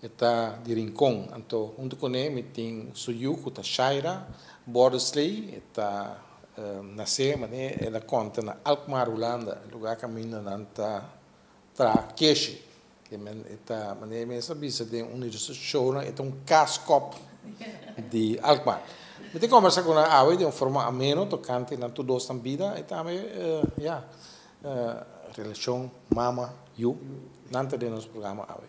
E ta di Rincon, anto huntu cu ne mi tin su yu cu ta Shaira Borderslee. E ta nace, mane el a conta, na Alkmaar, Hulanda, lugar caminda nan ta traha keshi. E ta, mane e mes a bisa den un di su shownan, e ta un kaaskop di Alkmaar. Mi tin conversa cu nan awe den un forma ameno, tocante nan tur dos nan bida y tambe, ya, relacion mama, yu. Nan ta den nos programa awe.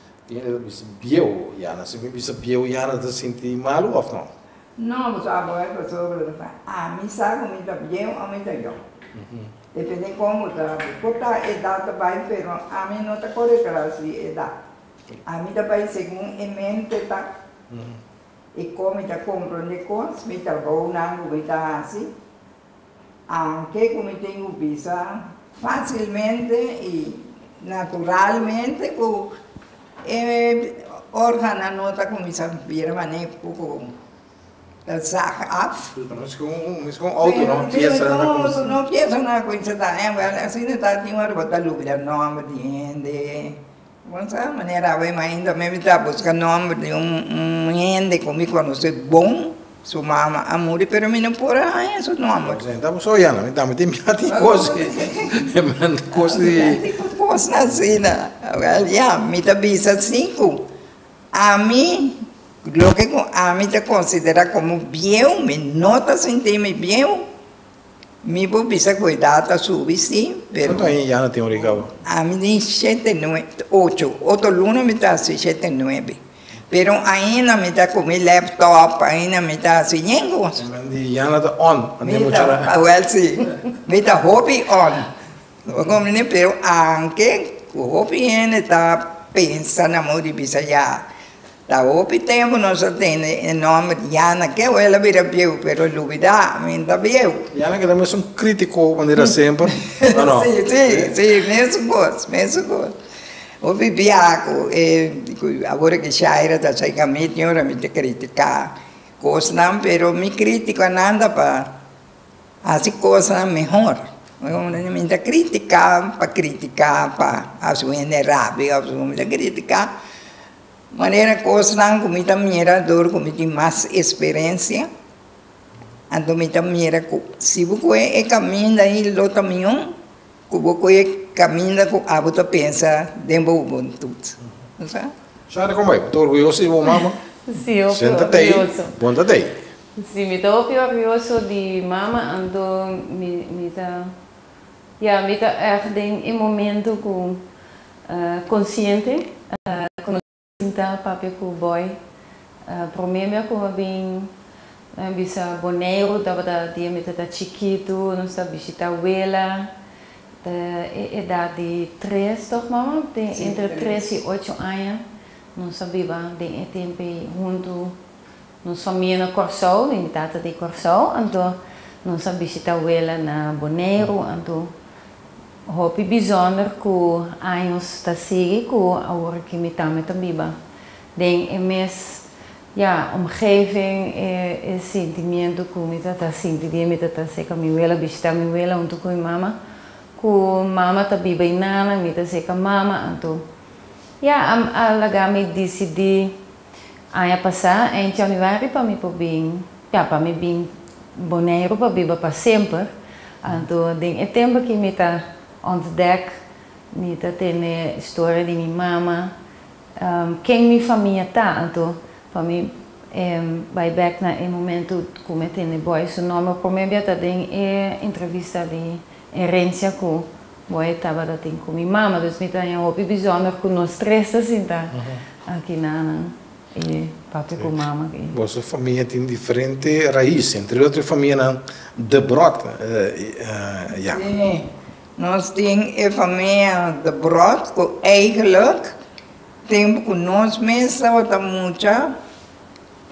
Tin e ta bisa bieu yana. Si mi bisa bieu yana ta sinti malu of no? No, mi su abogado a pasó cu lo ta bay. Ami sa cu mi ta bieu o mi ta young. Depende con bo ta habi. Cu ta edad ta bay pero ami no ta core tras di edad. Ami ta bay segun e mente ta y con mi ta compronde cos, mi trabou nan cu mi ta haci An ke ku mi tin ku bisa? Fásilmente i naturalmente ku e órgannan no ta kuminsá bira manera ku ko ta zag af. Mes ku un mes ku un outo no, piesa na kuminsá. No, piesa na kuminsá ta, en wel asina ta tin ora bo ta lubra nòmber di hende, Bon sa manera awe ma ainda mi ta buska nomber di un hende ku mi konosé bon, su mama a muri pero mi no por a haña su nomber. Bon sa mi ta oya nan, mi tambe tin biaha tin kos di kos di. Biaha tin ku kos asina, ya mi ta bisa si ku ami loke ku ami ta konsiderá komo bieu mi no ta sinti mi bieu. Mi por bisa cu e dado a subi si, pero. Cuantu aña ya no tin un rigao? Ami tin shete nue, ocho, otro lunes mi ta hasi shete nuebe, pero ainda mi ta cu mi laptop, ainda mi ta hasi yen cos. Di Yana ta on, no tin mucho ra. Awel si, mi ta hopi on, bo comprende, pero anke cu hopi hende ta pensa na mor di bisa ya Ta hopi tempu nos a tene e nomber Yana ke hoy el a bira bieu pero el lubida mi nta bieu. Yana keda mesun kritiko manera a semper, o no? Si, si, si, mesun kos, mesun kos. Hopi bia ku e, ku awor ke Shaira ta sai ka mi tin ora mi ta kritika kosnan pero mi kritiko a nanda pa hasi kosnan mehor. Mi nta kritika pa kritika pa hasi un hende rabia of su, mi ta kritika. Manera kosnan ku mi ta mira dor ku mi tin mas eksperensia, anto mi ta mira ku si bo kohe e kaminda ei lo ta mihó ku bo kohe e kaminda ku abo ta pensa den bo hubuntut. No sa? Shari, kombay? Bo ta orguyoso di bo mama? Si, hopi orguyoso. Si no ta t'ei, bon ta t'ei? Si, mi ta hopi orguyoso di mi mama, anto mi ta Ya, mi ta èg den e momentu ku konsiente ku mi a sinta papia ku Boy. Promé bia ku mi a bin bisa Boneiru tabata dia mi ta ta chikitu, nos ta bishitá wela, ta e edat di tres tòg, mama? Tin entre tres i ocho aña. Nos a biba den e tempu ei huntu. Nos famia na Kòrsou, mi tata ta di Kòrsou, anto nos a bishita Wela na Boneiru, anto hopi bizonder ku años ta sigui ku awor ki mi tambe ta biba den e mes ya omgeving, e sentimiento ku mi tata a sinti dia mi tata seka mi Wela bishita mi Wela huntu ku mi mama, ku mama ta biba i nana mi ta seka mama, anto ya a laga mi disidi Aña pasá, en Januari pa mi por bin, ja, pa mi bin Boneiru pa biba pa semper, anto den e tempu aki mi ta ontdek, mi ta tene storia di mi mama, ken mi famia ta. Anto pa mi bai bèk na e momentu ku mi a tene Boy su nòmber promé bia ta den e entrevista di Herencia ku Moe tabata tin ku mi mama, dus mi ta haña hopi bishònder ku nos tres ta sinta aki nanan i pape ku mama aki. Boso famia tin diferente rais, entre el otro e famianan De Brood ya. Si, nos tin e famia De Brood ku eigelik tempu ku nos mes tabata mucha,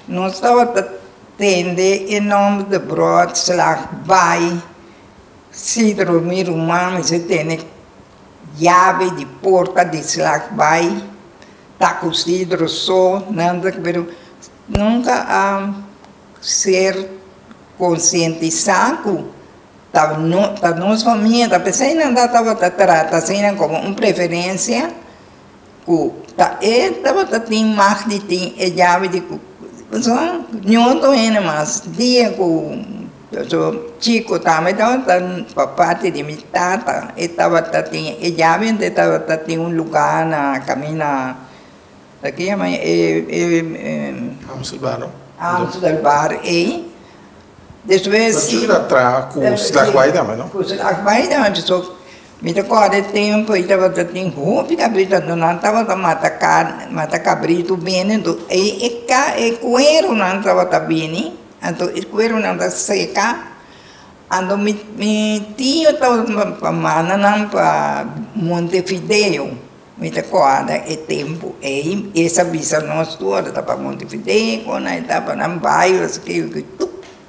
nos tabata tende e nòmber De Brood slag baai. Sidro, Mi ruman mester tene yabe di porta di slag bai ta ku Sidro so, Nandrik, pero nunka a ser konsientisá ku ta ta nos famia, ta p'esei nan ta tabata trata asina komo un preferensia. ku ta e tabata tin mag di tin e yabi di ku pasobra ñutu hende mas dia ku chiko tambe tabata pa parti di mi tata e tabata tin e yabi anto e tabata tin un luga na kamina a ke yama Amsterdam Amsterdam ei despues Pasobra su ta traha ku Slagbaai tambe no ku Slagbaai tambe so. Mi ta kòrda e tempu ei tabata tin hopi kabrita, anto nan tabata mata karni, mata kabritu bini, anto ei e e kuerunan tabata bini, anto e kuerunan ta seka, anto mi mi tio tabata ta manda nan pa montevideo, mi ta kòrda e tempu ei, esa bisa nos tur ora ta pa montevideo, ku nan e ta, pa nan bai, ora si ke yu, ke yu tup.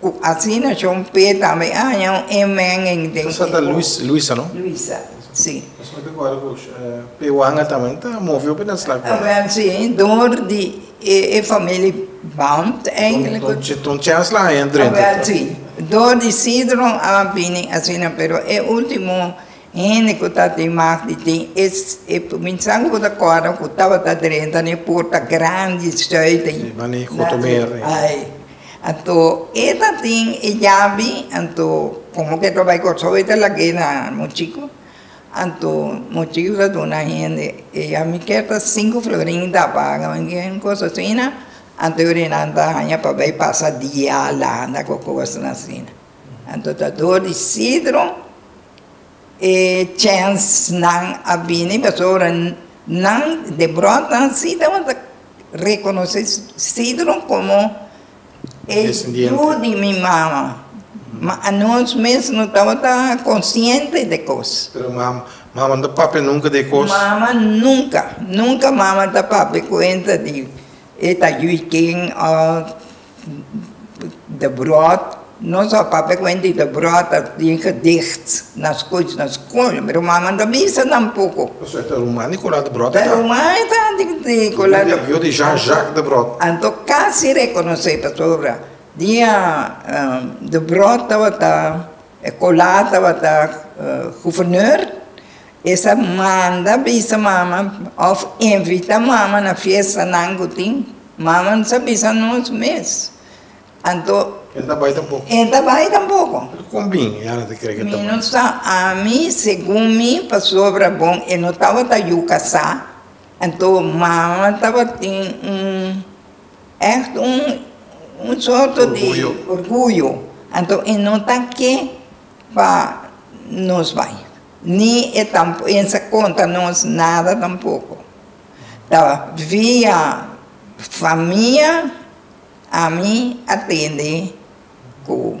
Ku asina John P. tambe haña un amen en den e kos. Luisa, no? Luisa, si. Nos no ta guarda ku P. Wanga tambe ta movio pa den slak tambe. Awel, si. Dor di e famili Bond eindelijk. Ton Chance lo haña drenta tambe. Awel, si. Dor di Sidron a bini asina, pero e ultimo. Hende ku tabatin mas di tin es e kuminsando ku ta kòrda ku tabata drenta na e porta grandi Zuiden. Si, na e Gotomeer. Ai. Anto e ta tin e yabi, anto komo ku e ta bai Kòrsou e ta lag'é na Mochiku. Anto Mochiku ta duna hende e yabi kèr ta sinku florin ta paga, manera un kos asina. Anto e orinan ta haña pa bai pasa dia landa ku kosnan asina. Anto ta dor di Sidro e chens nan a bini pasobra nan de bròta si tabata rekonosé Sidro komo e yu di mi mama, ma anos mes no tabata konsiente di e kos. Pero mama, mama no ta papia nunka di e kos? Mama nunka, nunka mama ta papia kuenta di e ta yu i ken òf. de brood, nos a papia cu hende de brood a tin gedicht na scuch na school, mi ruman a manda bisa nan poco. Osea ta ruman di cola de brood ta? Ta ruman e ta di cola de. Yo di Jean Jacques de Brood. Anto casi reconoce pasobra dia de brood tabata. E kolar tabata guvernor, es a manda bisa mama òf invita mama na fiestanan ku tin. Mama no sa bisa nos mes. Anto. E ta bai tampoko. E ta bai tampoko. Pero kon bin e Ana ta kere ku e ta bai? Mi no sa. Ami, segun mi, pasobra bon e no tabata yu kasá, anto mama tabatin un. Ègt un sorto di orguyo. Anto e no ta ke pa nos bai, ni e ta pensa konta nos nada tampoko. Ta via famia ami a tende ku.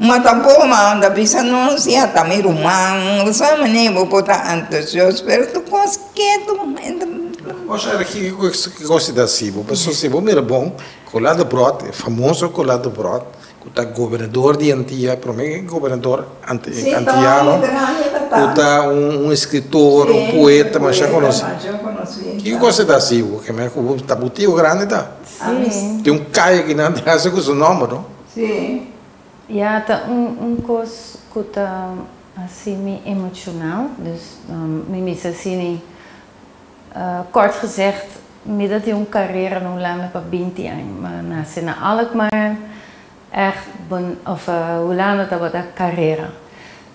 Ma ta bo man ta bisa nos si a ta mi ruman lo sa mane bo por ta antosios pero tur cos ketu Cos ergie cu cos ta haci bo pasobra si bo mira bon cola de brod e famoso cola de brod cu ta gobernador di antia prome gobernador antiano cu ta un escritor un poeta masha conoci ki cos ta haci bo keme cu bo ta bo tio grandi ta tin un calle aquí nan di casa cu su nomber no. Sí. Ya ta un un kos ku ta hasi mi emochonal, dus mi mester hasi ni kort gezegd mi ta tin un karera na Hulanda pa binti aña. Mi a nase na Alkmaar, ègt bon òf Hulanda tabata karera.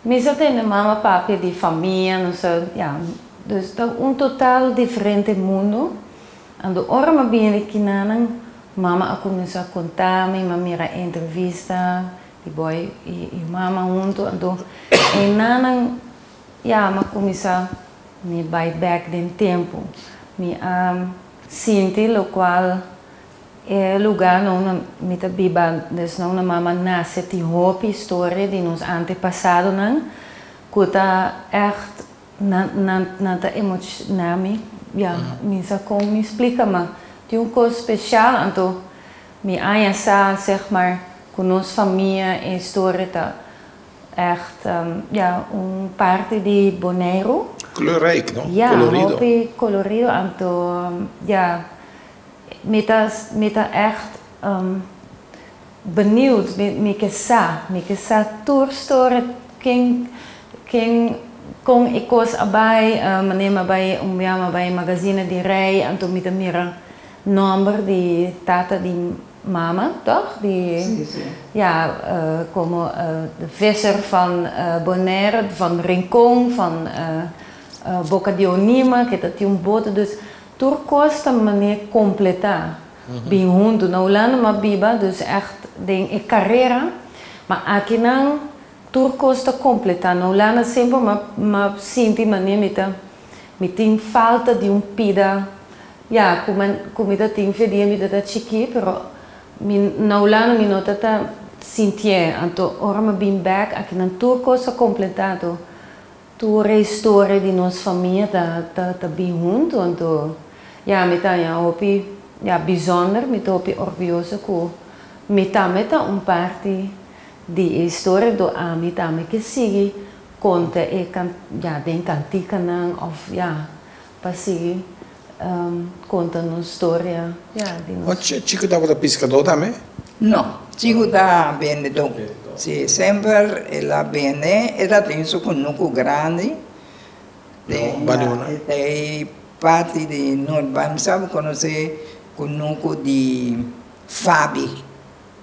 Mi sa tende mama papia di famia, nos a, ya, dus ta un total diferente mundu. Ando ora m'a bini di kinanan, mama a kuminsá kontá mi, m'a mira e entrevista di Boy i mama huntu. Anto einanan ya m'a kuminsá mi bai bèk den tempu. Mi a sinti lokual e lugá nou na mi ta biba desnou na mama nase tin hopi historia di nos antepasadonan ku ta ègt Nan ta emocioná mi. Ya, mi sa con mi splica, ma tin un cos special anto mi aña sa, zeg maar, cu nos famia e historia ta echt, ya, un parti di Boneiru. Kleurrijk, no? Colorido. Ya, hopi colorido anto, ya, mi ta echt. Beniud, mi mi ke sa, mi ke sa tur storia ken ken kon e kos a bai, mané mi a bai un bia mi a bai magazine di rei anto mi ta mira nòmber di tata di mama tòg di ya komo de visser van Bonaire van Rincon van Boca de Onima ke ta tin un boto dus tur kos ta mané kompletá. Bin huntu na Hulanda ma biba dus ègt den e karera. Ma akinan tur kos ta kompletá. Na Hulanda semper ma ma sinti manera mi ta mi tin falta di un pida ya ku ma ku mi ta tin fe dia mi ta ta chikí pero mi na Hulanda mi no ta ta sintié. Anto ora ma bin bèk akinan tur kos ta kompletá. Tur e historia di nos famia ta ta bin huntu anto ya mi ta haña hopi ya bizonder mi ta hopi orguyoso ku mi tambe ta un parti di e historia anto ami tambe ke sigui konta e ya den kantikanan of ya Pa sigui konta nos storia di nos. Oca Chico tabata piscador tambe? No, Chico ta bendedor. Si, semper el a bende. E ta tin su cunucu grandi den ei parti di Nortbank. Mi sa bo conoce cunucu di Fabi.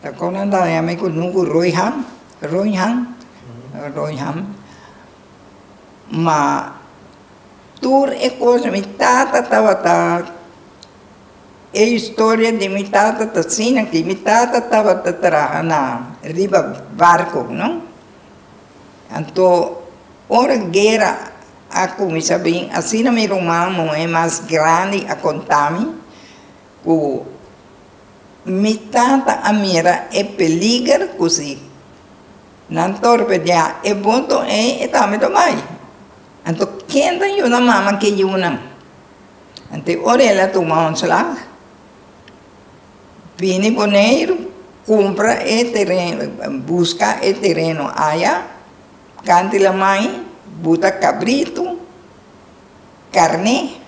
Ta kon nan ta haña mi ku nun ku roi ham, roin ham, roin ham, ma tur e kos mi tata tabata, e historia di mi tata ta asina, ku mi tata tabata traha na riba barko, no, anto ora guera a kuminsá bin, asina mi ruman muhé mas grandi a konta mi. Ku mi tata a mira e peliger ku si nan torpedeá e boto ei, e tambe lo bai. Anto ken ta yuna mama ke yunan? Anto e Orelia tuma un slag, bini Boneiru, kumpra e tereno, buska e tereno aya, kanti lamai, buta kabritu, karné.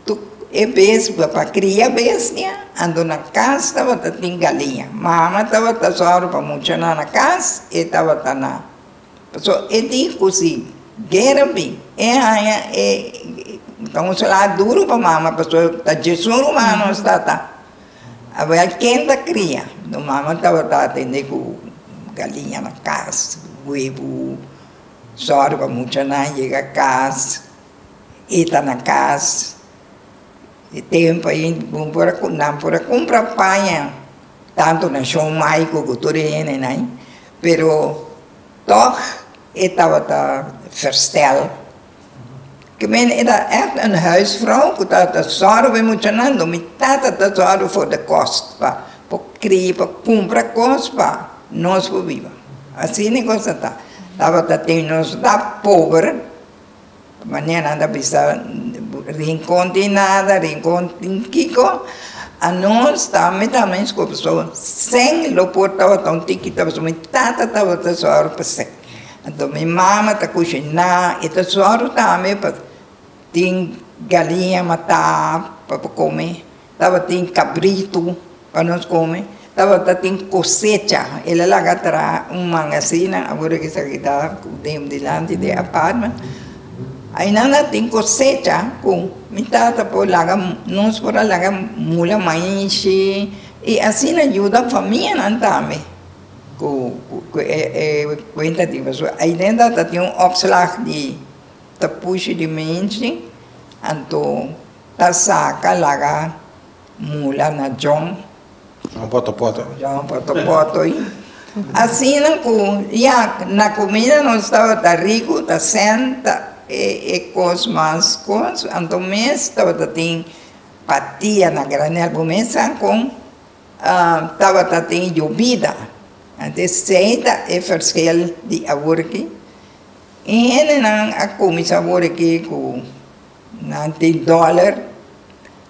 Tuk e bes bo ta kria bestia, ando na kas tabata tin galiña. Mama tabata sòru pa muchanan na kas, e tabata na. Pasobra e di ku si guera bin, e haña e ta un salá duru pa mama pasobra ta djesun rumano a sta ta. A bai a ken ta kria. Enton mama tabata atendé ku galiña na kas, webu, sòru pa muchanan yega kas. E ta na kas. E tempu ei bo por a nan por a kumpra paña, tantu na Shon Mai ku ku tur e hende nai, pero tòg e tabata versteld. Ke mene e ta ègt un huisvrouw ku ta ta sòru bai muchanan. Lo mi tata ta sòru for de kos pa por kria pa kumpra kos pa nos por biba. Asina e kos a ta. Tabata tin nos ta pober. Mañana anda bisa rincon tin nada, rincon tin kico, a nos ta mi ta mi sco paso sing lo por tabata un tikita paso mi tata tabata suaro pa sing anto mi mama ta cushina y ta suaro tambe pa tin galiña mata pa por comi. Tabatin cabrito pa nos come. Tabata tin cosecha. El a laga tra un manga asina, ahora ki sa keda cu dem dilanti di e apartment. Aynan a tin cosecha cu mi tata por laga, nos por a laga mula maishi y asina yuda famianan tambe cu e cuenta di basura. Aydentro ta tin un opslag di tapushi di minchi, anto. Ta saca laga mula na John. John Poto Poto. John Poto Poto y asina cu ya na comida nos tabata ricu ta senta e e cos mas cos anto mes tabata tin patia na granel bo mes sa con tabata tin yobida anto esey ta e verschil di aworki y hendenan a cuminsa worki cu. Nan tin dollar,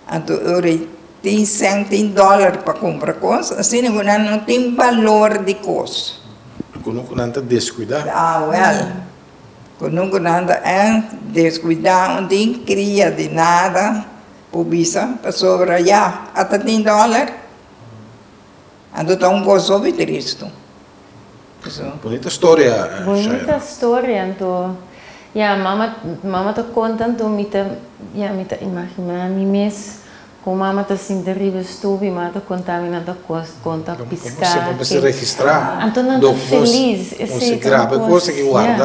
anto e rey tin cent tin dollar pa cumpra cos, asina cu nan no tin balor di cos. Cu nun cu nan ta descuida. Awel, cu nun cu nan ta en descuida, no tin cria di nada, po bisa, pasobra ya, ata tin dollar. Anto ta un goso obi tristu. Eso. Bunita storia Shaina. Bunita storia anto ya mama mama ta konta anto mi ta ya mi ta imagina mi mes con mama ta sinti riba e stupi mama ta konta mi nan ta konta pisca Bo mester registra anto nan ta felis esey ta un cos ya.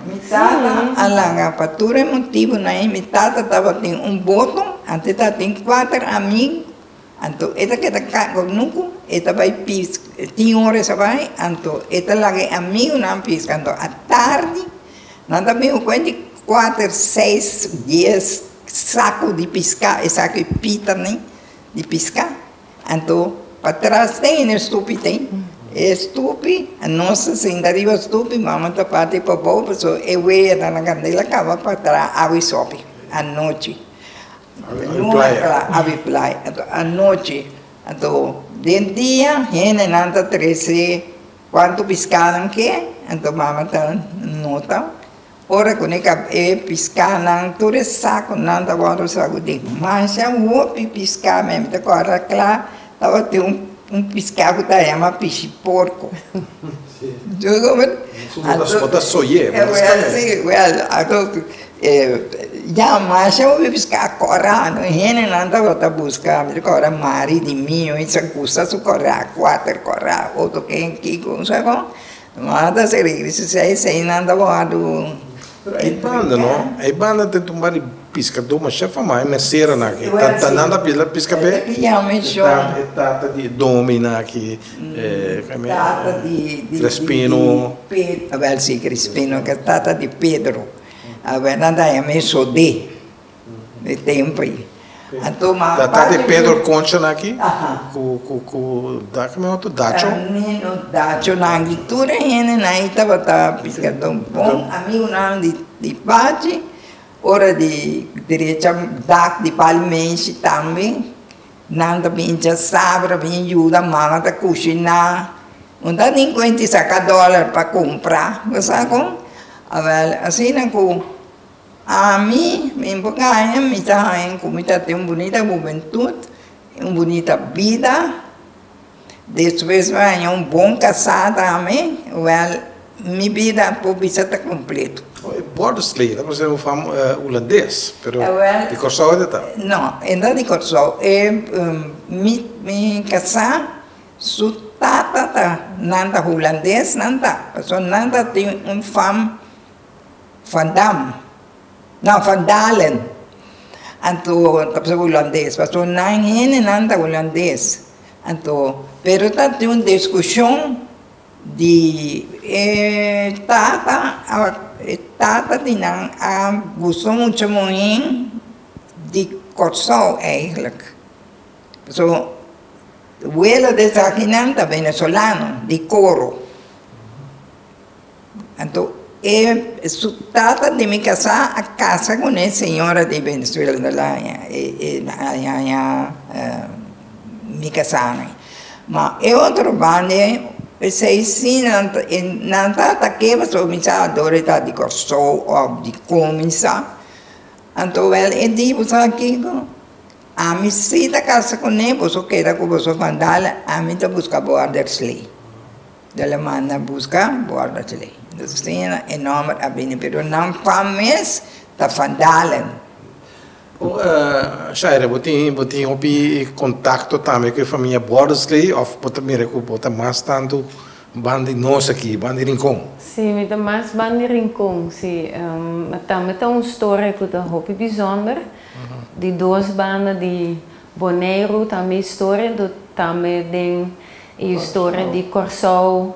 Mi tata a laga pa tur e motibunan y mi tata tabatin un boto anto tabatin cuater ami. Anto e ta keda kanga òf nunku e ta bai piska. Tin ora e sa bai, anto e ta laga e amigunan piska. Anto atardi nan ta bin ku kuenti kuater, seis, dies saku di piska, esaki pitane di piska. Anto pa tras den e stupi ten, e stupi, nos ta sinta riba stupi, mama ta parti pa bou, pasobra e wei a dal nan kandela kaba pa tra awa i sopi anochi. Awe playa. Anto anochi, anto den dia hendenan ta trese cuanto pisca nan ke, anto mama ta nota ora cu neka e piscanan, tur e saconan ta wor usado den. Masha hopi pisca meme ta corra cla. Tabata tin un un piská ku ta yama pishi porko. Bo ta soy'é, bo ta skap'é. Ya masha bo bin bisk'é a kòrano, hendenan tabata buska, mi ta kòrda Mari di mi, oin sa kusa su kòrá, kuater kòrá, oto ken kiko, bo sa kon. Bo a ta segri grisi si e sei nan ta wòrdu e. Ei banda no, ei banda ta tumba di piskadó mashá famá, e mesera nan aki ta ta nan ta pila piska p'e e tata di e domi nan aki e tata di Crespino Pet, awèl si Crespino ke tata di Pedro awèl nan ta yama e sodé. E tempri. Anto ma. Ta ta de Pedro concha nan aki? Aha. Cu cu cu daki mi otro dacho? Camino dacho nan aki tur e hende nan ey tabata piscador bon amigo nan di di pachi ora di derecha dak di pali meshi tambe nan ta bin cha sabe ta bin yuda mama ta cushina no ta nin cuenti saca dollar pa cumpra lo sa con awel asina cu. Ami, mi por gaña, mi ta haña ku mi ta tin un bunita hubentut, un bunita bida, despues mi a haña un bon kasá tambe, wèl, mi bida por bisa ta kompleto. Oh, e Borsley, ta parse un fam hulandes, pero di Kòrsou e ta ta? No, e no ta di Kòrsou, e, mi, mi kasá, su tata ta, nan ta hulandesnan ta, pasobra nan ta tin un fam. Van Dam. No, Van Dalen. Anto, ta pasobra hulandes, pasobra nan, hendenan ta hulandes. Anto, pero ta tin un diskushon di e tata, e tata di nan a buso mucha un hen di Kòrsou eigelijk. Pasobra wele di esakinan ta venezolano, di Koro. Anto e su tata di mi kasá a kasa ku un e señora di Venezuela, ta la haña e haña mi kasá mi. Ma e otro banda ei, p'esei si nan ta e nan ta atake pasobra mi sa ador e ta di Kòrsou òf di kon mi sa. Anto wèl e di bo sa kiko, ami si ta kasa kuné, boso keda ku boso fandal, ami ta buska bo Addersley. Lo lo manda buska borda cheley. Entonces tin asina e nomber a bini, pero nan fam mes ta Van Dalen. Shaira, bo tin bo tin hopi contacto tambe cu e famia Bordersley of bo ta mira cu bo ta mas tanto ban di nos aki, ban di Rincon? Si, mi ta mas ban di Rincon, si. Ma tambe ta un storia cu ta hopi bizonder di dos banda di Boneiru ta mi historia entu tambe den e historia di Kòrsou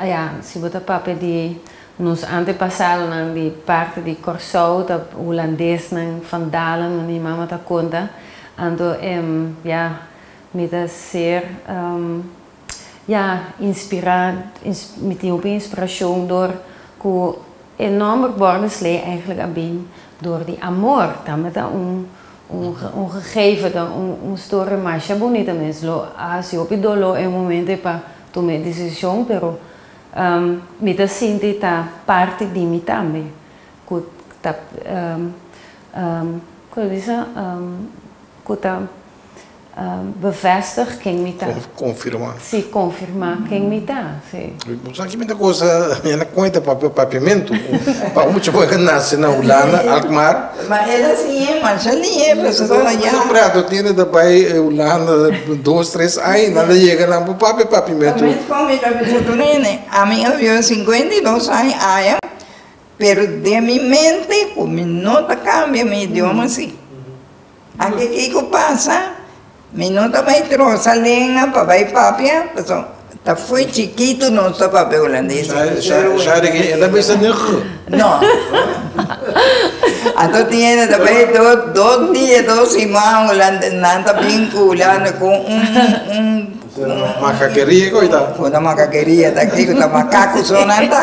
ya si bo ta papia di nos antepasadonan di parti di Kòrsou ta hulandesnan, Van Dalen no ni mama ta konta anto ya mi ta ser Ya inspirá, mi tin hopi inspirashon dor ku e nòmber Bordensley eigenlijk a bin dor di amor. Tamata un un gegeven, ta un storia masha bunita mes. Lo hasi hopi doló e momento e pa tuma e desishon, pero mi ta sinti ta parti di mi tambe ku ta, kiko lo bisa? ku ta. bevestig ken mi ta. Konfirmá. Sí, konfirmá ken mi ta, sí. Bo sa ki mi ta gosa e na kuenta pa papiamentu. Pa mucha bo a nase na Hulanda, Alkmaar. Ma e ta sin e masha liebre, esaki ta na ya. Preato tene ta bai Hulanda dos, tres ai, nan ta yega nan bo papia papiamentu. Ta mes kon mi ta bisa tur hende, ami a biba sinkuenta i dos ai aya, pero den mi mente ku mi no ta kambia mi idioma si. Aki kiko pasa, mi no ta bai trosa lenga pa bai papia, paso ta fui chikitu nos ta papia hulandes. Shari ki e ta bisa nigg? No. Anto tiene ta bai dos dia, dos siman hulandes, nan ta bin ku hulande ku un Makakeria ku ta? Una makakeria ta, kiko ta makaku so nan ta.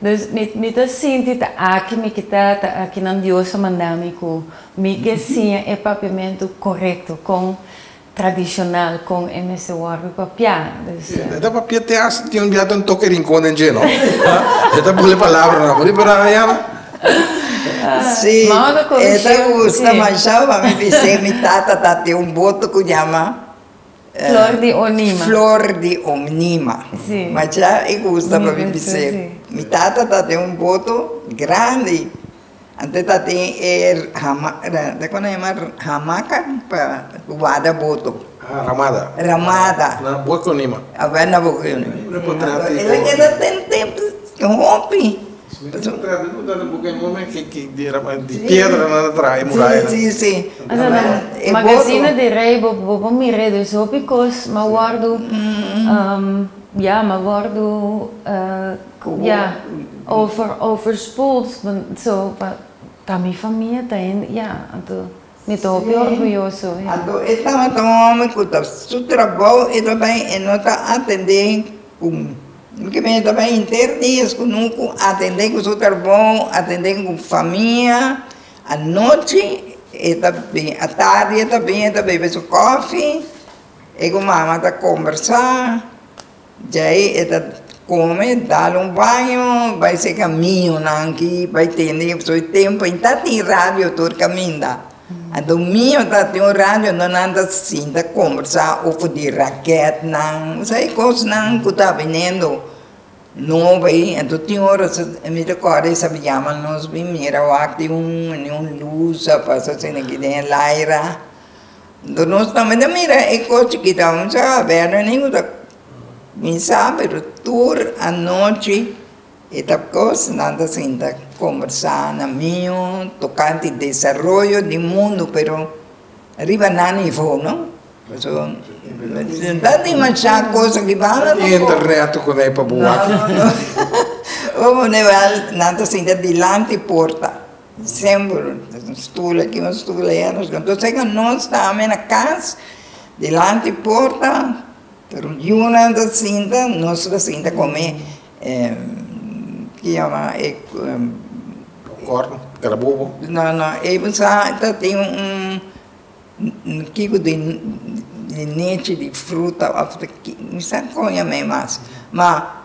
Dus mi mi ta sinti ta aki mi ke ta, ta akinan Dios a manda mi ku mi ke siña e papiamentu korekto, kon tradishonal, kon e mester wòrdu papiá. Dus. E ta papiá te hasta tin un biaha ta un toke rincon den dje, no? E ta bole palabra no. Por e paráda ya no. Sí, e ta gusta mashá, pa mi bisé mi tata ta tin un boto ku ñama. Flor di onima. Flor di onima. Sí. Ma dja e gusta pa mi bis'é. Mi gusto, sí. Mi tata ta den un boto grandi. Antes ta den e hama, ta kua nan yama? Hamaca pa ku wada boto. Ah, ramada. Ramada. Na boki onima. Awe na boki onima. Entonces, el a keda den tempu hopi. Si mi ta chala traha di luz, tabata bo cu e momen cu di piedra nan a traha e muraya nan. Magazine di rey, bo por mira edo es hopi cos, mi a wordo, ya, mi a wordo, ya, over, overspoeld, so, pa mi famia ta hende, ya, anto. Mi ta hopi orguyoso. Anto e tabata un homber cu ta su trabao e ta bay e no ta atende cu mi kiba e ta bay henter dia cu nucu atende cu su trabao atende cu famia anochi e ta bini atardi e ta bini e ta bebe su cofi e cu mama ta combersa. Djei e ta kome, dal un baño, bai se caminho na anki, bai tende e soi tempo. E ta tin radio tur caminda. A domingo ta tin un radio dor nan ta sinta combersa over di raket nan, sa e cos nan cu ta binendo nobo ei. Anto tin ora so, mi ta corda e sabi yama nos bin mira wak tin un, un luz a pasa asina aki den e laira. Nos tambe ta mira e cos chikita un sa a verlo nin cu ta cuminsa pero tur anochi e ta cos nan ta sinta conversa na mio tocante desaroyo di mundo pero riba nan nivo no pasobra ta dimasha cos riba nan nivo. Enta reto cu ne pa bo wak. No no no nan ta sinta dilanti porta. December un stoel aki un stoel aya nos keda entonces esa nos ta amen na cas dilanti porta pero yunan ta sinta nos ta sinta come popcorn carabobo no no ey sa ta tin un kiko di nechi di fruta of di ki mi sa con amen mas ma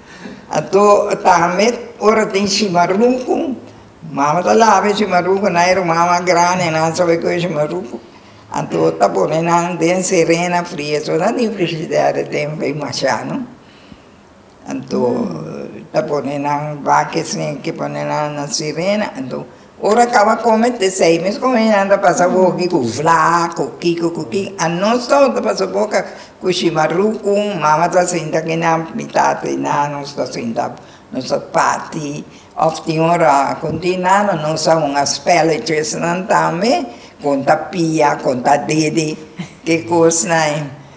Ato a tamet ora tin shimaruku, mama ta laba e shimaruku na e ruman mas grandi nan sa bai cu e shimaruku ato ta pone nan den serena fria so nan tin frigider e tempo ey masha no ato ta pone nan baki sin ki pone nan na serena ato. Ora kaba kome t'esei mes kominan ta pasa wogi ku vla, ku kiko ku ki. Anos tou ta pasa boka ku shima ruku, mama ta sinta kinan mitat di nano ta sinta, nos ta parti. Òf tin ora kon tin nano nos sa un a spelletje esnan tambe, kon ta pia, kon ta dede, ke kosnan.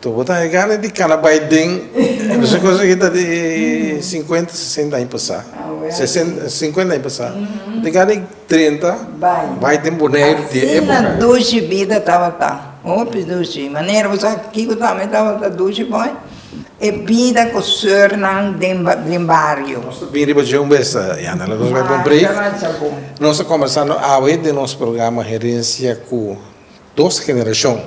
Totu bo ta hegare di cana bay den esaki cosa aki ta di cincuenta sesenta aña pasa, cincuenta aña pasa bo ta hegare di treinta bay den Boneiru di e epoca. Asina dushi bida tabata hopi dushi manera bo sabi kiko ta ami tabata dushi boy e bida cu surnan den bario. Nos ta bin riba dje un bes yana laga nos bay pa un break nos ta combersa awe den nos programa herencia cu Dos generashon,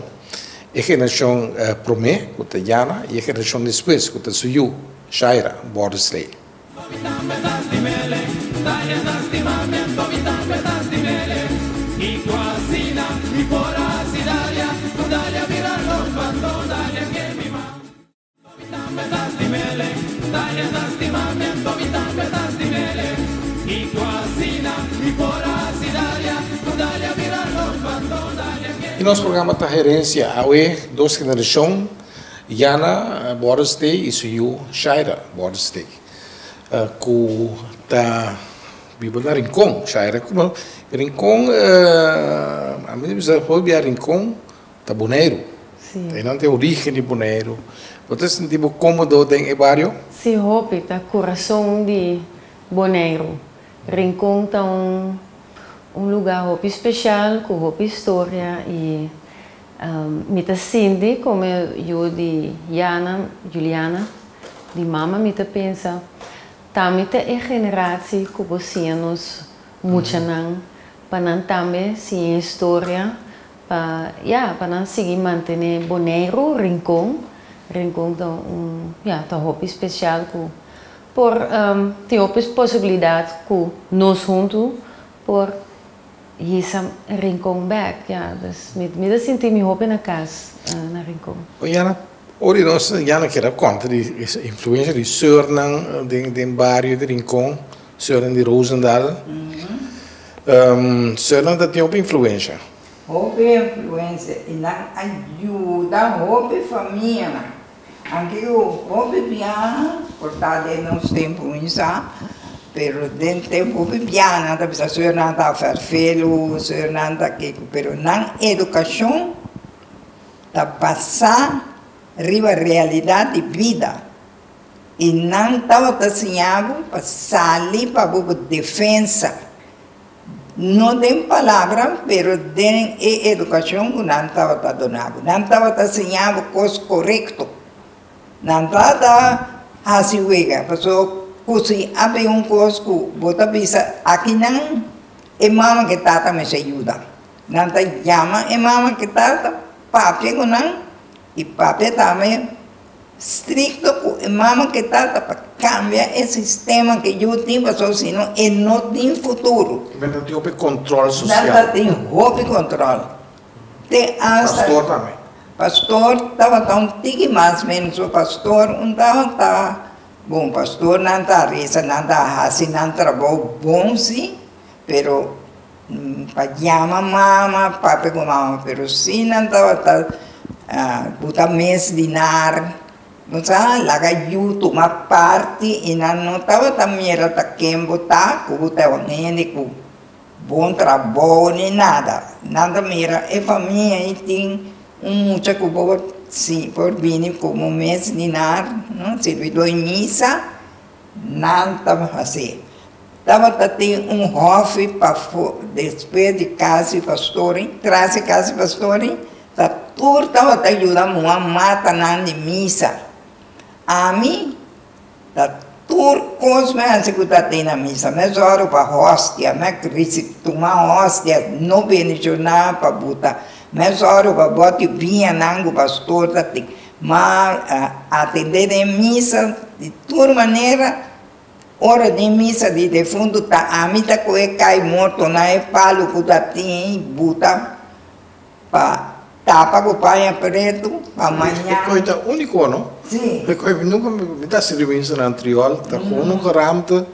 e generashon promé, ku ta Yana, i e generashon despues, ku ta su yu, Shaira, Bordesley. Y nos programa ta herencia awe dos generacion Yana Bordestee y su yu Shaira Bordestee cu ta biba na Rincon Shaira cu no Rincon a mi ta bisa for bia Rincon. ta Boneiru. Sí. Ta einan ta e origen di Boneiru. Bo ta sinti bo cómodo den e bario? Sí, hopi. Ta corazón di Boneiru. Rincon ta un un lugar hopi special cu hopi historia y mi ta sinti como yu di Yana, Juliana, di mama mi ta pensa tambe ta e generaci cu bo siña nos muchanan pa nan tambe siña e historia. Pa ya, pa nan sigui mantené Boneiru, Rincon, Rincon ta un, ya, ta hopi special cu por tin hopi posibilidad cu nos huntu por hisa Rincon back, ya. Dus mi ta sinti mi hopi na cas na Rincon. Bo ya na, ora di nos ya na keda conta di e influencia di surnan den bario di Rincon. Seuren di Roosendaal. Seuren ta tin hopi influensha. Hopi influensha i nan a yuda hopi famianan. Anke ku hopi biaha, por ta den nos tempu mi sa, pero den tempu hopi biaha nan ta bisa seurennan ta ferfelu, seurennan ta kico, pero nan edukashon ta basá riba realidad di bida. I nan tabata siña bo pa sali pa bo defensa, no den palabra, pero den e educacion cu nan tabata dona bo. Nan tabata siña bo cos corecto. Nan no a ta haci wega, pasobra cu si a bin un cos cu bo ta bisa akinan e mama cu e tata mester yuda, nan ta yama e mama cu e tata papia cu nan. E papia ta ama e strikto ku e mama ku e tata pa kambia e sistema ku yu tin pasobra si no e no tin futuro. Nan ta tin hopi kontrol sosial. Nan ta tin hopi kontrol. Te asta. Pastor tambe. Pastor tabata un tiki mas menos pasobra pastor un tabata bon pastor nan ta resa nan ta hasi nan trabou bon si. pero N pa yama mama, pape ku mama, pero si nan tabata buta mes dinar, bo sa laga yu tuma parti i nan no tabata mira ta ken bo ta, ku bo ta e un hende ku bon trabou ni nada, nan ta mira e famia ei tin un mucha ku por bini komo mes dinar, no, sirbi dor misa. Nan tabata así. Tabata tin un hòfi pafó despues di kasi pastori, tras e kasi pastori, ta tur tabata yuda muha mata nan di misa. Ami ta tur kos mi hasi ku ta tin na misa. Mi a zòru pa hòstia, mi a risi tuma hòstia, no benishonnan pa buta. Mi a zòru pa bòt di biñanan ku pastor ta tin. Ma ATD den e misa di tur manera, ora den misa di defuntu ta ami ta coge cai morto na e palu cu ta tin y buta pa tapa cu paña pretu pa mañana. E coi ta unico no? Si. E coi mi nunca mi ta hasi reuinsa na antriol ta unica ramte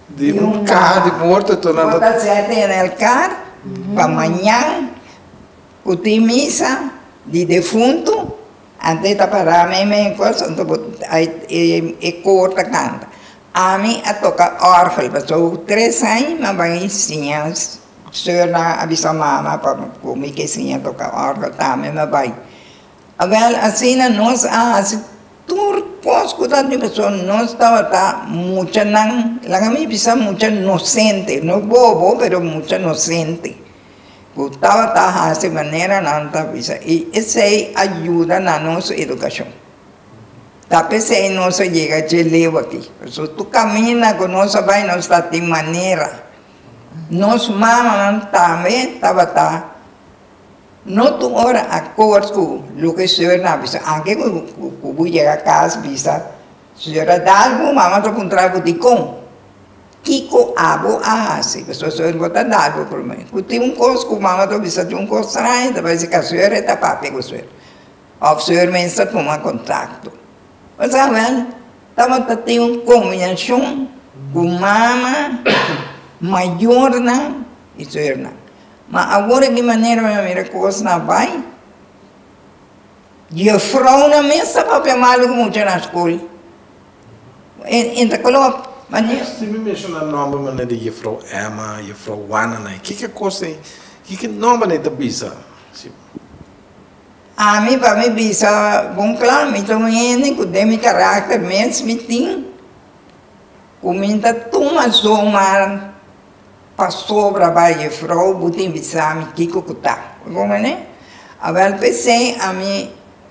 di un caha di morto enton nan ta. Bo ta sete en el car pa mañan Ku tin misa di defuntu, ante e tapará mi me kos anto bo e koor ta kanta. Ami a toka orgel paso tres aña mi a bai insiña seur nan a bisa mama pa ku mi ke siña toka orgel ta mi a bai. Awel asina nos a hasi tur kos ku ta paso nos tabata mucha nan laga mi bisa mucha nosente no bobo pero mucha nosente. Ku tabata hasi manera nan ta bisa i esei a yuda na nos edukashon. Ta p'esei nos a yega dje leu aki. P'esu tur kaminda ku nos a bai nos ta tin manera. Nos mamanan tambe tabata no tur ora akort ku loke sor nan a bisa. Anke ku bo yega kas bisa, sor a dal bo, mama ta puntra bo dikon. Kiko abo a hasi? Pasobra su hermano ta dado prome. Ku tin un kos ku mama ta bisa tin un kos straño, ta bai si ka su hermano e ta papia ku su hermano. Òf su hermano sa tuma kontakto. Bo sa wèn, tabata tin un kombinashon ku mama, mayornan i su hernan. Ma awor di manera mi a mira kosnan a bai, juefrounan mes ta papia malu ku muchanan skol. Esaki mi menshoná nòmber manera di Jefrou Emma, Jefrou Juana nan. Kiko kos ei? Kiko nòmber nan e ta bisa? Ami pa mi bisa bon kla, mi ta un hende ku den mi karakter mes mi tin ku mi ta tuma zomaar pasobra bai Jefrou bo tin bisa mi kiko ku ta. Bo konprendé? Awèl p'esei ami.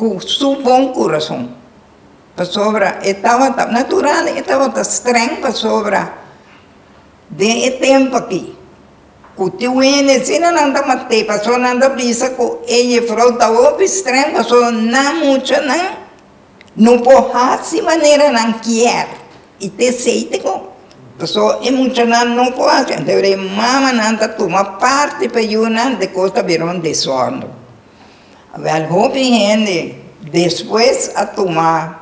ku su bon kurason, pasobra e tabata natural, e tabata strèng, pasobra den e tempu akí ku tin wende asina nan ta mat'é, pasobra nan ta bisa ku e jefrou ta hopi strèng, pasobra nan muchanan no por hasi manera nan kier i te seite ku, pasobra e muchanan no por hasi, entere e mamanan ta tuma parti pa yunan, dikos ta bira un desòrno. Wèl hopi hende despues a tuma,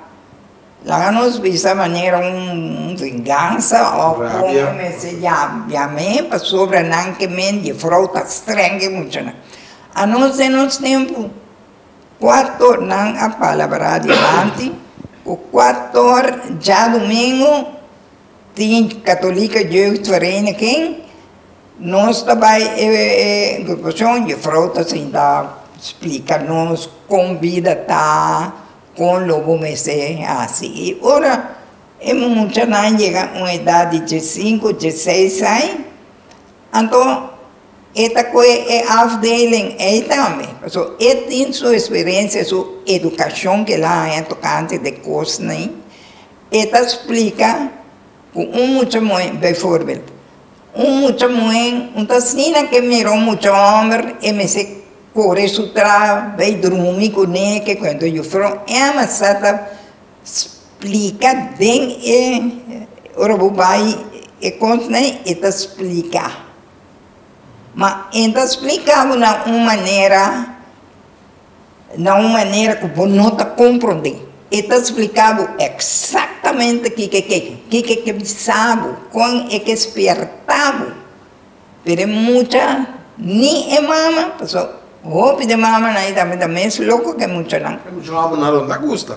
laga nos bisa manera un vingansa òf kon bo mester yabia mi pasobra nan ke mi di frou ta strèng e muchanan. A nos den nos tempu kuato nan a palabrá dilanti, ku kuator djadumingu Tin Katolika Jeugd Vereniging, nos ta bai e grupashon, Juffrouw ta sinta splika nos kon bida ta, kon lo bo mester hasi. I ora e muchanan yega un edat di diesinko, dieseis ai, anto e ta kohe e afdeling ei tambe, pasobra e tin su eksperensia, su edukashon ku el a haña tokante de kosnan E ta splika ku un mucha muhé, bijvoorbeeld, un mucha muhé un ta asina ke mira un mucha hòmber, e mester kore su traha bai drumi kuné, ke kuento Jufrou Emma sa ta splika den e, ora bo bai e kòntnan e ta splika. Ma e ta splika bo na un manera. na un manera ku bo no ta komprondé. E ta spliká bo eksaktamente kiko e ke, kiko e ke bisa bo, kon e ke spièrtá bo. Pero e mucha, ni e mama, pasobra hopi di mamanan i tambe ta mes loko ku e muchanan. E mucha hòmber nan lo ta gusta.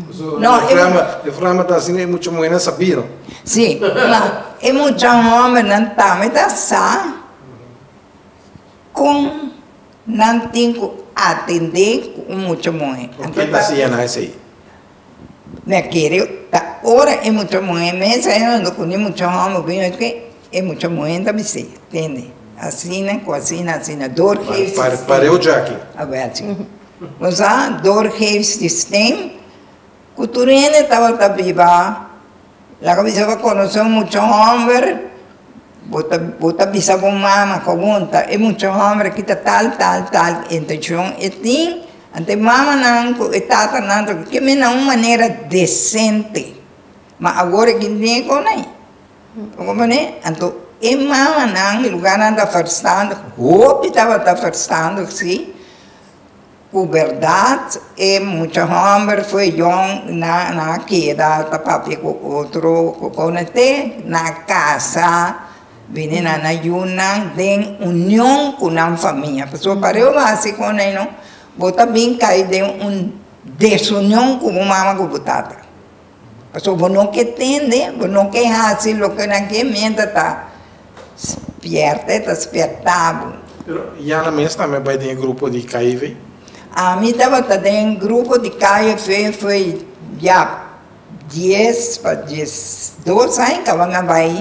Pasobra e frèma, e frèma ta hasi e mucha muhénan sa bira. Sí, ma e mucha hòmbernan tambe ta sa kon. Nan tin ku atendé ku un mucha muhé. Ku ke ta hasié nan esei? Mi a kere ta ora e mucha muhé mes a yendo ku ni mucha hòmber ku yendo ke e mucha muhé ta bis'é, tende, asina ku asina, asina dor geef sistem. Pareu djaki. Awe achi. Bo sa dor geef sistem? Ku tur hende tabata biba, lo ku bisa bo konosé un mucha hòmber, bo ta, bo ta bisa bo mama, Kopunta e mucha hòmber aki ta tal, tal, tal intenshon e tin? Anto e mamanan ku e tatanan ta kemina un manera desente. Ma awor aki nego nai. Bo kompren? Anto e mamanan, lugarnan ta ferstandig, hopi tabata ferstandig, si. Ku bèrdat e mucha hòmber fueyon nan a keda ta papia ku otro ku konekté nan a kasa bini nan na yunan den union ku nan famia. Pasobra par'e bo hasi konan ei no, bo ta bin kai den un desunion ku bo mama ku bo tata. Pasobra bo no ke tende, bo no ke hasi loke nan ke miéntra ta spierte, ta spiertá bo. Pero Yana mes tambe bai den e grupo di KIV? Ami tabata den grupo di KIV fo'i ya dies pa dies dos aña kaba mi a bai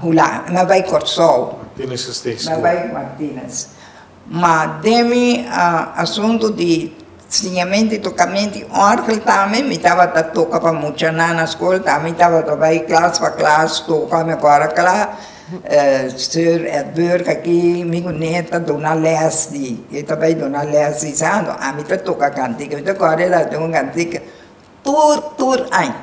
Hulan, mi a bai Kòrsou. Martinez Estate School. Mi a bai Martinez. Ma den mi asuntu di siñamenti i tokamenti òrgel tambe mi tabata toka pa muchanan na skol, tambe mi tabata bai klas pa klas toka. Mi a kòrda kla Sir Edburg aki, mi ku Ned ta duna lès di, e ta bai duna lès di santo, a mi ta toka kantika. Mi ta kòrda e laga di un kantika, Tur tur aña.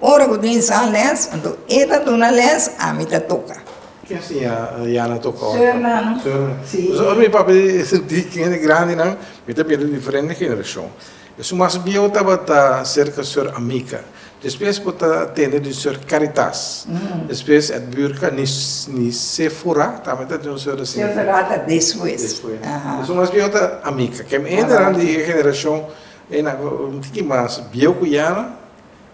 Ora bo tin sa les, anto e ta duna les, ami ta toka. Ki a siña Yana toka ora? Seurnan. Seurnan. Sí. Entonces, ora mi papia di hende grandinan, mi ta bira di diferente generashon. E su mas biehu tabata serka seur Amica. Despues bo ta tende di seur Caritas. Despues e Burka, ni ni Sefura tambe ta tin un seur asin. Sefura ta despues. Despues. Aha. E su mas biehu ta Amica. Ke hendenan di e generashon, e nan un tiki mas biehu ku Yana.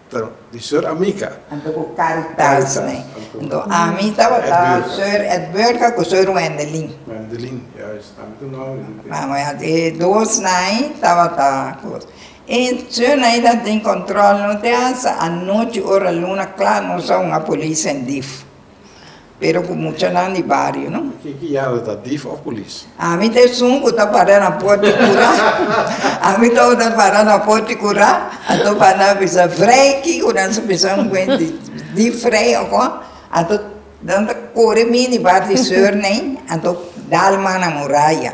Ta di Sor Amica. Anto ku Caritas, ne. Anto ami tabata Sor Edwirka ku Sor Wendelin. Wendelin, juist. Ami ta no oí di Mama ya di dos nai tabata kos. I Sor Naida tin control no di hasta anochi ora luna kla nos a hunga polis en dif. Pero ku muchanan di bario, no? Kin ku yala ta, dif òf pulis? Ami ta esun ku ta para na por di kura. Ami tabata ta para na por di kura, anto Fana bisa, Vrei, kiko nan su bisa un kuenti? Dif vrei òf kon? Anto nan ta kore mi di bar di Surney, anto Dalman na muraya.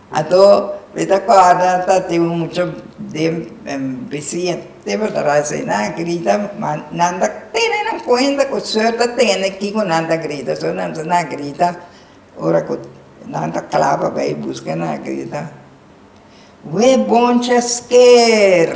Ato mi ta kòrda ta tin un mucha den bisia te por ta bai asina a grita ma nan ta tene nan kuenta ku suert ta tene kiko nan ta grita so nan ta na grita ora ku nan ta kla pa bai buska nan a grita we boncha sker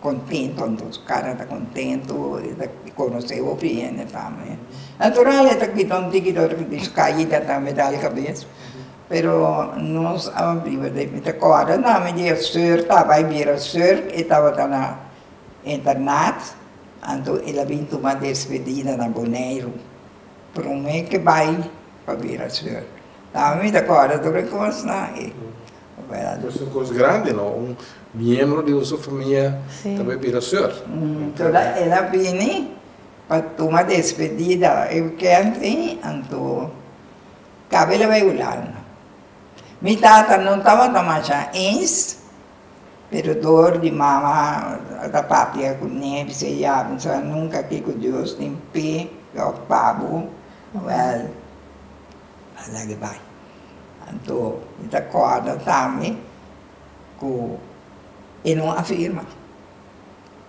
Contento, anto su cara ta contento, e ta conoce hopi di hende tambe. Natural e ta cuida un tiki dor di su caida tambe, da e cabes. Pero nos a biba den, mi ta corda tambe di e sur taba, e bira sur, e tabata na internat, anto el a bin tuma despedida na Boneiru. Prome ke bai pa bira sur. Tambe mi ta corda tur e cosnan. Nos tin cos grandi no un miembro di un so famia ta bai bira sur. Toda el a bini pa tuma despedida e weekend tin anto cabe el a bai Hulanda. Mi tata no tabata masha eens pero door di mama a ta papia cu nee bisa e ya no sabi nunca kico Dios tin pega of pa bo. A la di bai. Anto mi ta kòrda tambe ku e no a firma.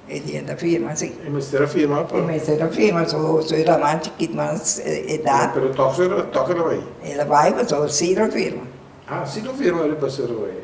E di a ta firma si. E mester a firma pa. E mester a firma so e raman chikit mas edat. Pero tòg so e tòg el a bai. El a bai pasobra si lo firma. Ah si lo firma el a basa bai.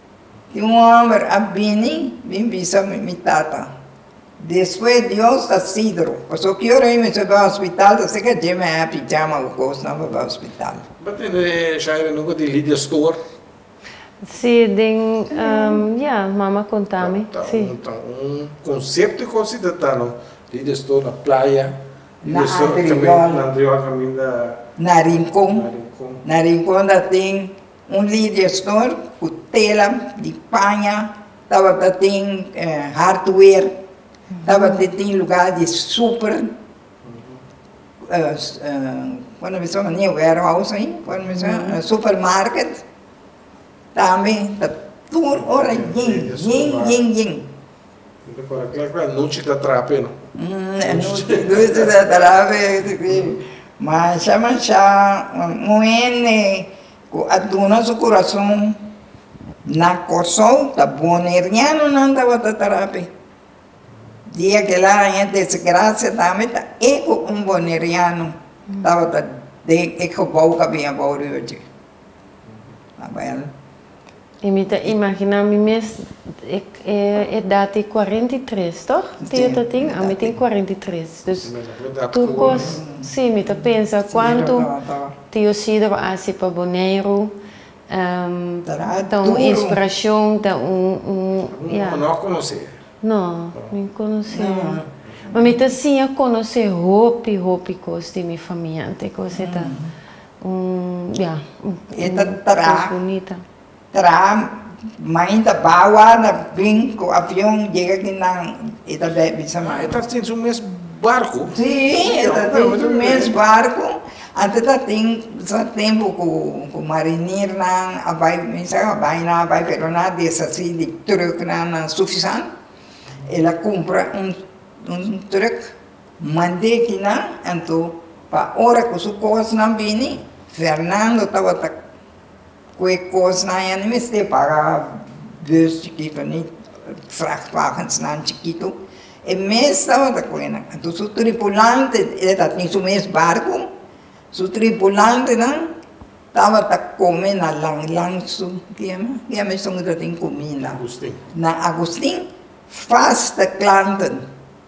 Tin un homber a bini bin bisa mi tata despues Dios ta sidro paso cu yo rey mester bay hospital ta ser ca dje mi a happy jama cu cosnan pa bay hospital. Bo tene Shaira nunca di Lydia store? Si den ya mama conta mi si. Ta un concepto cu si ta ta no Lydia store na playa na Antriol caminda na Rincon na Rincon ta tin Un lider stor ku tela di paña tabata tin hardware, tabata tin lugá di super warehouse ain, supermarket, tambe ta tur ora yen, yen, yen, yen. Anochi ta trape no. Anochi ta trape si mancha mancha un hende cu a duna su curason na Kòrsou ta bonerianonan tabata trape di aquel aña desgracia tambe ta e cu un boneriano tabata den e gebouw cu a bini abouw riba dje. a bel. Y mi ta imagina mi mes e edad di cuarenta y tres toch? Tio ta tin? A mi tin cuarenta y tres. Dus tur cos, si mi ta pensa cuanto tio Cide a haci pa Boneiru ta un inspiracion, ta un, ya. Bo no a conoce? No, mi no conoce. Ma mi ta siña conoce hopi, hopi cos di mi famia antes cos e ta. ya. E ta tra, tra, main ta bawa na bin ku avion yega aki nan e ta bèk bisa main. E ta tin su mes barku? Si, e ta tin su mes barku. Antes ta tin sa tempu ku marinirnan a bai kuminsá a bai nan a bai pero nan a deshasí di trùknan nan sufisant. E la kumpra un trùk. Mande kinan anto pa ora ku su kosnan bini, Fernando tabata ku e kosnan ya ni mester paga bus chikitu ni vrachtwagensnan chikitu, e mes tabata ku enan. Anto su tripulante, e ta tin su mes barku, su tripulantenan tabata kome na langlang su, ke yama, ke yama esun ku ta tin kuminda? Agustin. Na Agustin fasta klanten.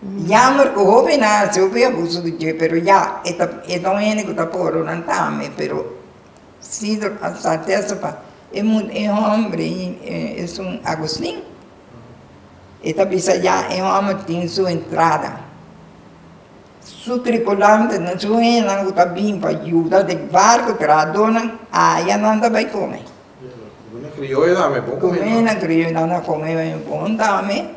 Yamber cu hobenasjo cu a buso di dje, pero ya, e ta, e ta un hende cu ta por oran tambe, pero Sidro a sa testifa, e mu, e homber ei, esun Agustin, e ta bisa ya e homber tin su entrada, su tripulantenan, su hendenan cu ta bin pa yuda den barco trahadonan, aya nan ta bay come. Cu hende criollonan a come bay bon tambe.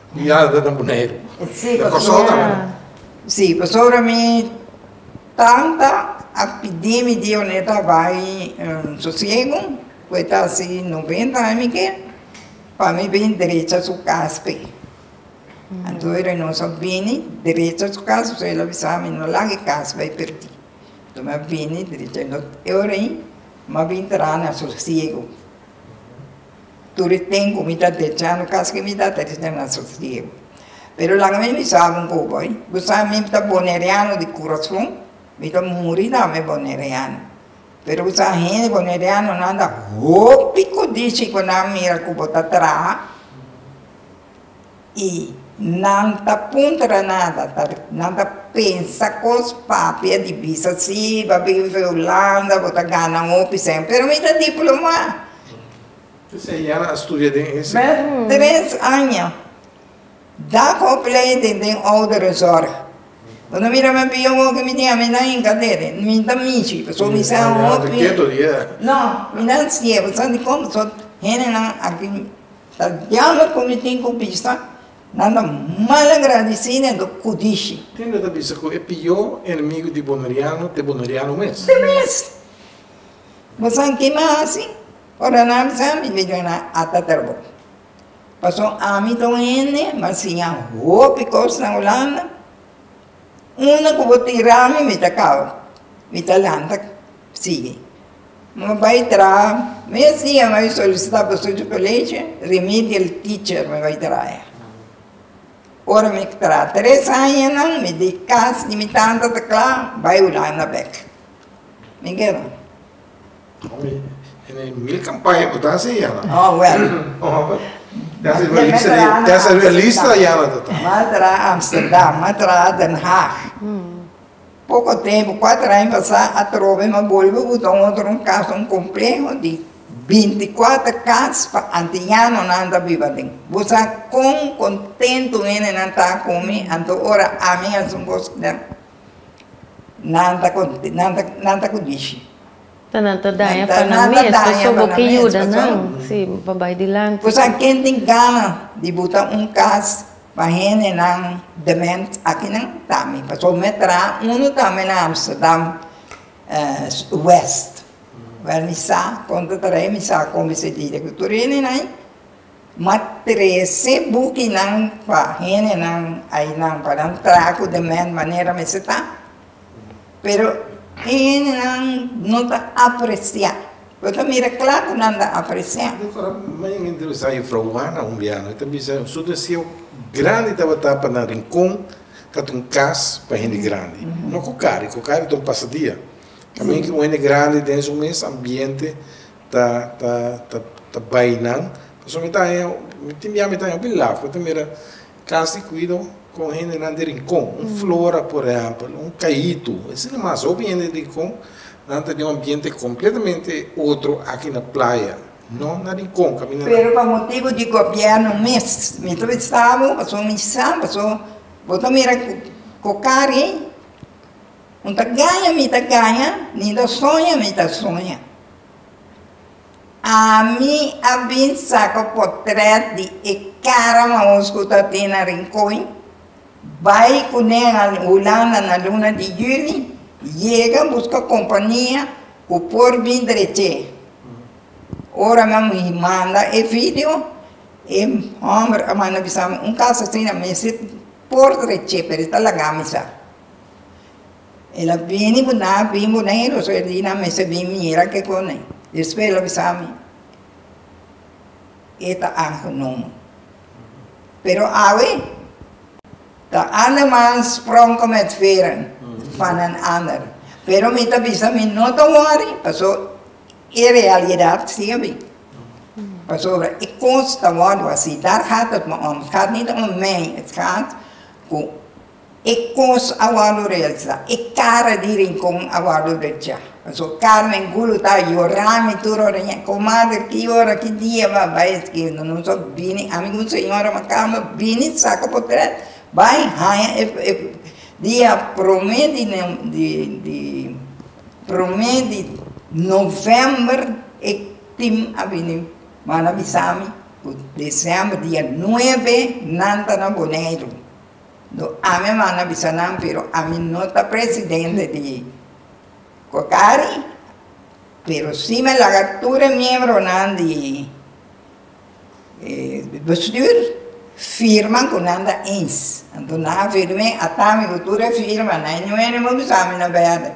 Mi ya ta na Boneiru. Sí, pasobra mi tanta a pidi mi Dioneta bai sosiegu, cu e ta haci noventa aña mi ke, pa mi bin derecha su cas pe. Anto e Reynoso a bini derecha su cas, pasobra el a bisa mi, no laga e cas bai perdi. Anto mi a bini derecha, e ora ei mi a bin traha na sosiegu. Tur e tempu mi ta dechando kas ke mi ta tres den nan sosiego. Pero laga mi bisa abo un kos boy, bo sa mi ta boneriano di kurason, mi ta muri tambe boneriano. Pero bo sa hende bonerianonan ta hopi kodishi ku nan mira ku bo ta traha. i nan ta puntra nada, ta nan ta pensa kos papi a di bisa si bo bin usa Hulanda bo ta gana hopi sèn pero mi ta diplomá. P'esei ya a studia den e sèn. Bèt tres aña daf opleiding den ouderenzorg bo ta mira mi a bia hopi mi tin ami nan hinka dede mi ta mishi pasobra mi sa hopi. Kieto di e. No mi nan siye bo sabi kon pasobra hende nan aki. Ta diablo cu mi tin cu bisa, nan ta malagradeci nando cu dici. Tin ley ta bisa cu e pio enemigo di Boneriano t'e Boneriano mes. T'e mes. Bo sabi ki mi a haci? Ora nan a bisa ami, mi dici nan ata tra bo. Paso ami ta un hende m'a siña hopi cos na Hulanda, una cu bo tira ami, mi ta cau, mi ta lanta sigui. Mi bai traha. Mes dia mi a solisita bosochi pa leche, remedial teacher mi bai traha. Ora mi traha tres añanan, mi di kas di mi tanta ta kla, bai Hulanda bek. Mi keda. Omi, e na e mil kampaya ku ta hasi ya nan. Oh, wèl. Desa realista ya nan ta ta. Mi a traha Amsterdam, mi a traha Den Haag. Poko tempu, kuater aña pasá atrobe, mi a bolbe buta un otro un kas, un kompleho di bintikuater kas pa antianonan ta biba den. Bo sa kon kontentu hendenan ta ku mi anto ora ami hasi un kos ku nan, nan ta konte, nan ta, nan ta ku dichi. Ta nan ta daña pa nan mes, pasobra. Nan ta daña pa nan mes, pasobra. Bo ke yuda nan, si, pa bai dilanti. Bo sa ken tin gana di buta un kas? Pa hendenan dement akinan tambe. Pasobra mi a traha unu tambe na Amsterdam West, wèr mi sa kon ta traha i mi sa kon mi sentida ku tur hendenan ai. Mi a trese bukinan pa hendenan ainan pa nan traha ku dement manera mester ta. Pero e hendenan no ta apresiá. Bo ta mira kla ku nan ta apresiá. Di kora mi a bin entrevistá Jufrou Juana un biaha. E ta bisa, su deseo grandi tabata pa nan Rincon katu un kas pa hende grandi. No ku kari, ku kari ta un pasadia. Ta mi ku un hende grandi den su mes ambiente ta, ta, ta bai nan. Pasobra mi ta haña, tin biaha mi ta haña hopi laf. Mi ta mira. Klas di kuido kon hendenan di rinkon, un flora por ehèmpel, un kayitu, esei ta mas hopi hende di rinkon, nan ta den un ambiente kompletamente otro aki na playa, no na rinkon kaminda nan. Pero pa motibu di gobièrnu mes mi ta bisa bo, paso mi sa, paso bo ta mira ku ko kari un ta gaña mi ta gaña, ninda soña mi ta soña. Ami a bin saka potrèt di e kara maos ku ta tin na Rincon, bai ku nan a Hulanda na luna di Juni, yega buska kompania ku por bin drech'é. Ora mi a manda e video, e hòmber a manda bisa mi, Un kas asina mester por drech'é, pero e ta laga mi sa. El a bini bo na bin Boneiru so e dina mester bin mira ke kone despues el a bisa mi e ta anho nomo pero awe ta anda mas sprong ko met feren van den ander pero mi ta bisa mi no ta worry paso e realidad si a bin pasobra e kos ta wordo asi dar hat dat me om gaat nit om mei het gaat ku. E kos a wòrdu resa, e kara di rinkon a wòrdu drechá. Pasobra Carmen Gulu ta yorá mi tur ora ña, Komader, ki ora, ki dia bo a bai eskintu? Nos a bini, ami ku mi señora Makamba bini saka potrèt bai haña e dia promé di promé di novèmber e tim a bini manda bisa mi ku desèmber dia nuebe nan ta na Boneiru. No ami a manda bisa nan pero ami no ta presidente di cocari pero si me laga tur e miembronan di bestuur firma cu nan ta eens anto nan a firme ata mi cu tur e firma nan y nuene mo bisa ami na berde.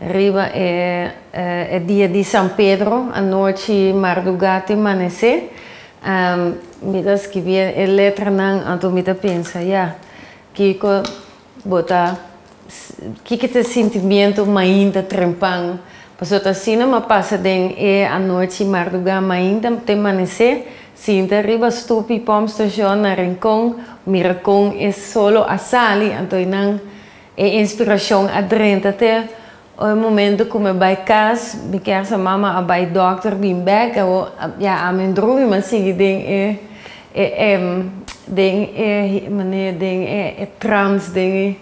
Riba e dia di San Pedro, anochi mardugá te manesé, mi ta skibi e letranan, anto mi ta pensa, ya, kiko bo ta, kiko ta e sintimiento mainta trempan? Pasobra ta asina m'a pasa den e anochi mardugá mainta te manesé, sinta riba stupi Pom Station na Rincon, mira kon e solo a sali, anto einan E inspirashon a drenta te o e momento ku mi bai kas, mi kèr sa mama a bai dòkter bin bèk, awor ya ami un drumi m'a sigui den e den e maner den e trans den e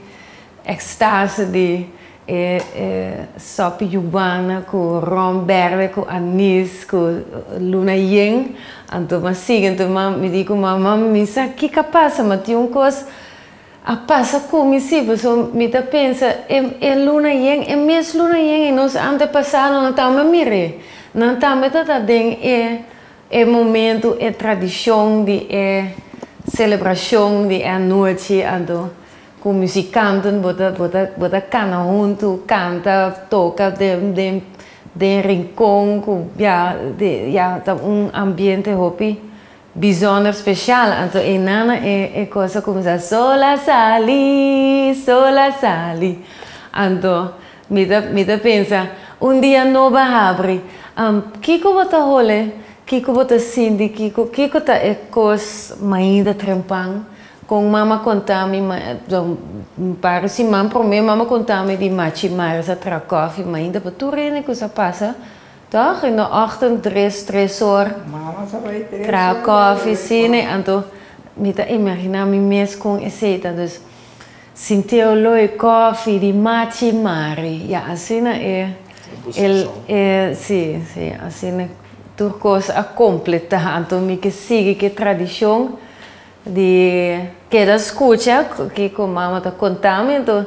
ekstase di e e sòp yubana ku ròm bèrdè ku anis ku luna yen, anto m'a sigui anto mi di ku mama, mami mi sa kiko a pasa, ma tin un kos. A pasa cu mi si, pasobra mi ta pensa, e e luna yen, e mes luna yen y nos antepasado nan tambe mir'e, nan tambe ta ta den e e momento, e tradicion di e celebracion di e anochi, anto cu musicanten bo ta bo ta bo ta cana hunto, canta, toca den den den rincon cu ya de ya ta un ambiente hopi. Bizonder special anto e nana e cos a cuminsa sol a sali sol a sali anto mi ta mi ta pensa un dia no ba habri am kico bo ta hole kico bo ta sinti kico kico ta e cos mainda trempan con mama contami ma un par siman prome mama contami di machi maris a traha cofi mainda pa tur hende cu sa pasa Tòg in de ògtend tres, tres or, traha kòfi, sine, anto mi ta imaginá mi mes kon esei ta dus sin teoloi, kòfi, di machi mari, ya asina e, e, e, si, si, asina tur kos a kompletá, anto mi ke sigui ke tradishon di keda skucha kiko mama ta kontá mi, anto.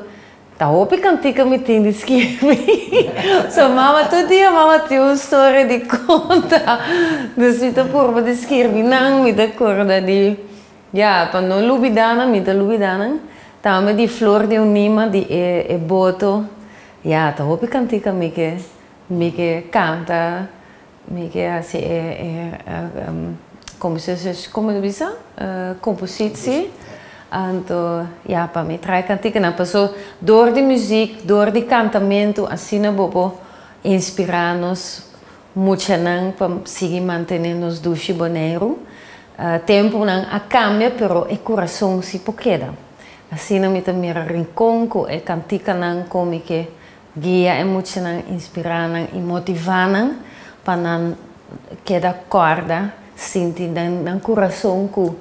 Ta hopi cantica mi tin di skirbi so mama tur dia mama tin un story di conta dus mi ta purba di skirbi nan mi ta corda di ya pa no lubida nan mi ta lubida nan tambe di flor di un nima di e boto ya ta hopi cantica mi ke mi ke canta. Mi ke hasi e como se dice como lo bisa compositie anto ya pa mi trae cantikanan paso door di muziek door di cantamentu asina bo por inspira nos muchanan pa sigui mantene nos dushi Boneiru temponan a cambia pero e curason si por keda asina mi ta mira rincon cu e cantikanan con mi ke Guia e muchanan, inspirá nan i motivá nan pa nan keda kòrda sinti den nan kurason ku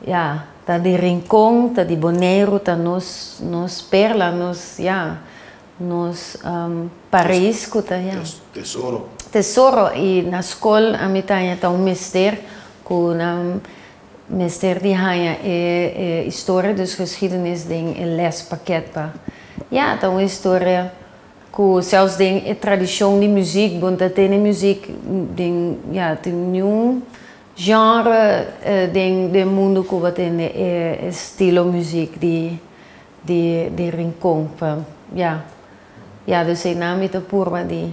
ya, ta di Rincon, ta di Boneiru, ta nos nos perla, nos ya, nos Paris ku ta ya, tesoro. Tesoro i na skol ami ta haña ta un mester ku nan Mester di haña e historia di su geschidenis den e lespakket pa. Ya, ta un historia ku sèfs den e tradishon di muzik bo no ta tene muzik den, ya, tin niun genre den den mundu ku bo tende e estilo muzik di di Rincon pa, ya. Ya, dus einan mi ta purba di.